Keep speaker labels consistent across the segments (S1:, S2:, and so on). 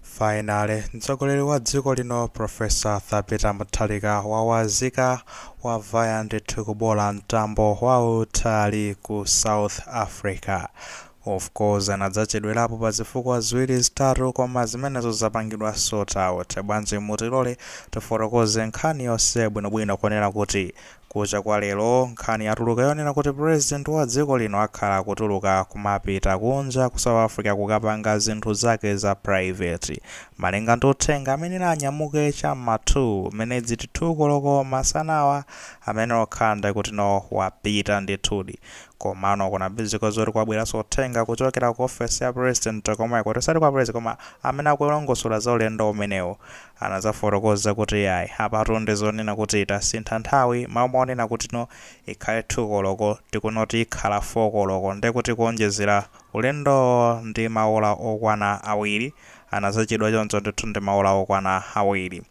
S1: Finally, mtsogoleri wa dziko lino Professor Arthur Peter Mutharika wawazika wavaya ndithu kuboola mtambo wautali ku South Africa. Of course anadzachedwerapo pa zifukwa ziwiri zitatu koma zimenezo zapangidwa sort out. Bwanji mutilole tifotokoze nkhani yonse bwinobwino kunena kuti Kucha kwa lero nkhani yatuluka yonena kuti president wa dziko lino akhala akutuluka kumapita kunja ku South Africa kukapanga zinthu zake za private. Malinga ndi uthenga ameneyu anyamuke cha mma 2 minutes to 2 koloko masanawa, zimene zokhala nde kuti no wapita ndithudi. Komano kunapezeka zoti kwabweranso uthenga kuchokera ku office ya president komweko, osati kwa president koma amene akulongosola za ulendo umenewu, anadzafotokoza kuti, Iyayi, apatu ndi zonena kuti tasintha nthawi, m'malo monena kuti no ikhale 2 koloko nde kuti no ikhala 4 koloko ndiye kuti kuonjezera ulendowo ndi maola okwana awiri, anadzachedwa choncho ndithu ndi maola okwana awiri.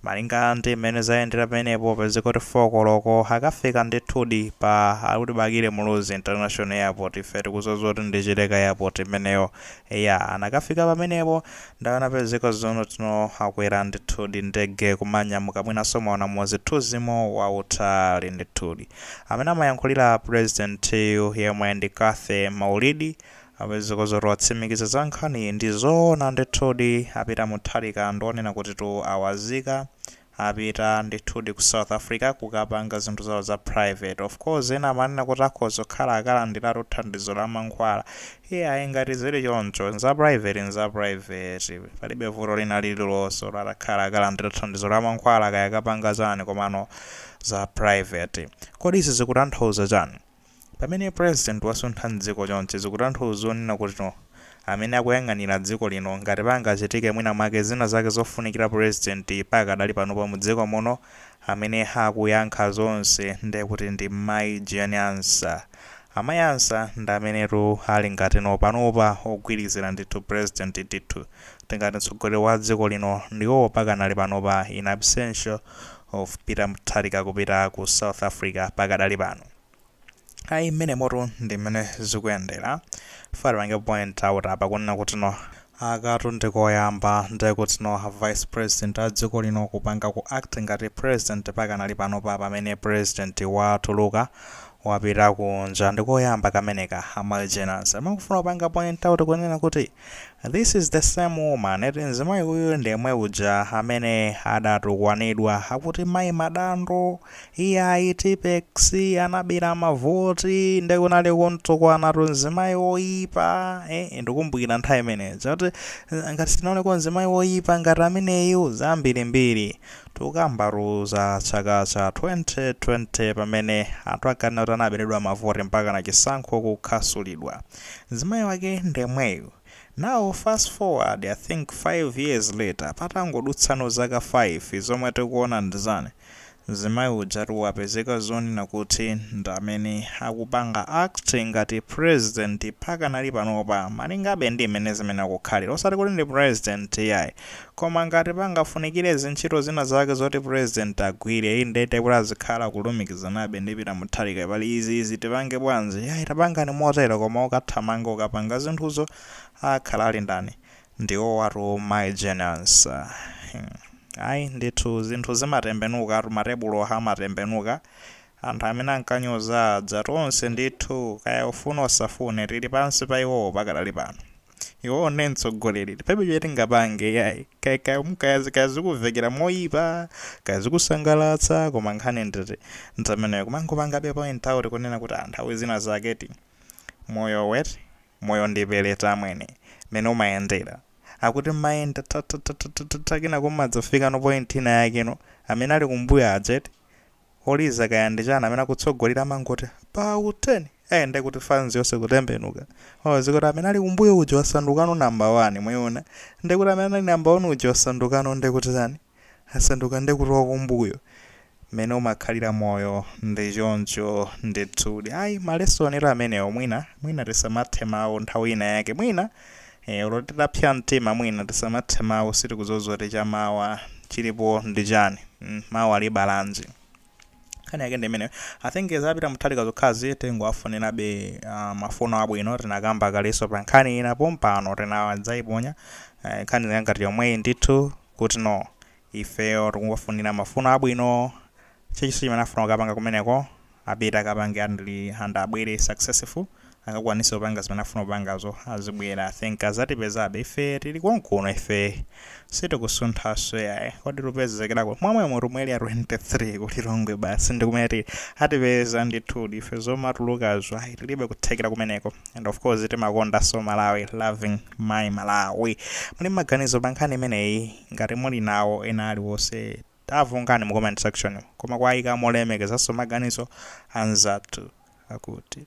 S1: Malinga ndi m'mene zayendera pamenepo, upeze kuti 4 koloko akafika ndithudi pa akuti Bakili Muluzi International Airport, ife tikudziwa zoti ndi Chileka Airport imeneyo. Eya, anakafika pamenepo Ndiye anapezeka zoona kuti no akwera ndithudi ndege kumanyamuka mwinanso mwaona muzithunzimo wautali ndithudi amene amayankhulira president yu yemwe ndi Cathy Maulidi apezeka zoti watsimikiza za nkhaniyi ndizoona ndithudi a Peter Mutharika ndi zonena kutitu awazika apita ndithudi ku South Africa kukapanga zinthu zawo za private. of course ena amanena kuti akhoza kukhala akalandiratu thandizo la mankhwala. iyayi ngati zili choncho za private nza private. palibe vuto lina lililonse olo atakhala akalandira thandizo la mankhwala kaya akapanga chani komano za private. kodi izi zikutanthauza chani? Pamene president wasuntha mdziko chonchi zikutanthauza zonena kuti no amene akuyang'anira dziko lino ngati pangachitike mwina mwake zina zake zofunikira president pakadali panopa mdziko muno amene akuyankha zonse ndekuti ndi Mai Jane Ansah. Amai Ansah ndi amenetu ali ngati no panopa ogwirizira ndithu president ndithu tingati mtsogoleri wa dziko lino ndiwowo pakanali panopa in absentia of Peter Mutharika kupita ku South Africa pakadali pano. Ayi mmenemotu ndi mmene zikuyendera. Funa tipange point out apa kunena kuti no akatu ndi koyamba nde kuti no vice president a dziko lino kupanga ku act ngati president pakanali panopa pamene president watuluka wapita kunja ndikoyamba kameneka a Mai Jane Ansah. Ndimafuna kupanga point out kunena kuti. This is the same woman eti mzimayi uyu ndi yemwe uja amene adatukwanidwa akuti mayi Madando iyayi Tippex anabera mavoti nde kunali kumtukwana tu mzimayi woyipa eh, ndikumbukira nthawi imeneyo zoti eh, ngati sinaoneko mzimayi woyipa ngati ameneyu zambirimbiri tukambatu za chaka cha 2020 pamene anthu akanena kuti anaberedwa mavoti mpaka na chisankho kukhasulidwa Mzimayi wake ndemweyu. Now fast forward I think 5 years later patangodutsano zaka 5 zomwe tikuona ndizani? Mzimayi ujatu wapezeka zonena kuti ndamene akupanga act ngati president pakanali panopa malingabe ndi mmene zimene akukhalira osati kuti ndi president iyayi Koma ngati pangafunikire zintchito zina zake zoti president agwire, indete kuti azikhala kulumikizanabe ndi Peter Mutharika pali izi izi tipange bwanji? Yayi tapangani motero koma okathamanga kukapanga zinthuzo akhala ali ndani? Ndi iwowatu Mayi Jane Ansah. Ayi ndithu zinthu zimatembenukatu, matebulo amatembenuka. Anthu amene ankanyoza aja, tonse ndithu, kaya ufune usafune, tili pansi pa iwowo pakadali pano. iwowo ndi mtsogoleri palibe chimene tingapange yayi kaya kaya kaya kaya zikuvekera moyipa kaya zikusangalatsa koma nkhani nditi ndameneyo kumangopangabe point out kunena kuti ah, nthawi zina zaketi moyowu eti moyo ndi pelete amwene mene umayendera akuti mayenda tatatatatatata kena kumadzafikano point ina yakeno amene ali kumbuyo aja eti Oliza kaya ndi chani amene akutsogolera amangoti pa u turn eh ndekuti fans yonse kutembenuka oh zikuti amene ali kumbuyo uja wasandukano number 1 mwaiona ndekuti amene anali number 1 uja wasandukano ndekuti chani asanduka ndekuti wakumbuyo mene umakhalira moyo ndi choncho ndithudi ayi malesonitu amenewo mwina mwina tisamathe mawu nthawi ina yake mwina Eee olo titapsya mtima mwina tisamathe mawu sitikudziwa zoti chamawa chilipo ndi chani mm mawa libala chani nkhani yake ndi imeneyo i think za Peter Mutharika zokhazi tingowafunirabe uh, mafuno abwino tinakamba kaleso pa nkhani ina pompano tinadzaiponya eh, nkhani yake ngati yomweyi ndithu kuti no ifeyo tikungowafunira mafuno abwino chilichonse chimene afuna kukapanga kumeneko apite akapange andli and abwere successful akakwanise kupanga zimene afuna kupangazo azibwera I think azatipezabe ife tili konkuno ife sitikusunthaso yayi kodi tupezekera kuti mwamwemo tu mu Area 23 ku Lilongwe basi ndikumene tili atipeza ndithudi ife zomatulukazo ayi tilibe kuthekera kumeneko and of course timakondaso Malawi loving my Malawi muli ndi maganizo pa nkhani imeneyi ngati muli nawo ena aliwonse Tavungani mu comment section koma kuayika molemekezanso maganizo anzathu akuti.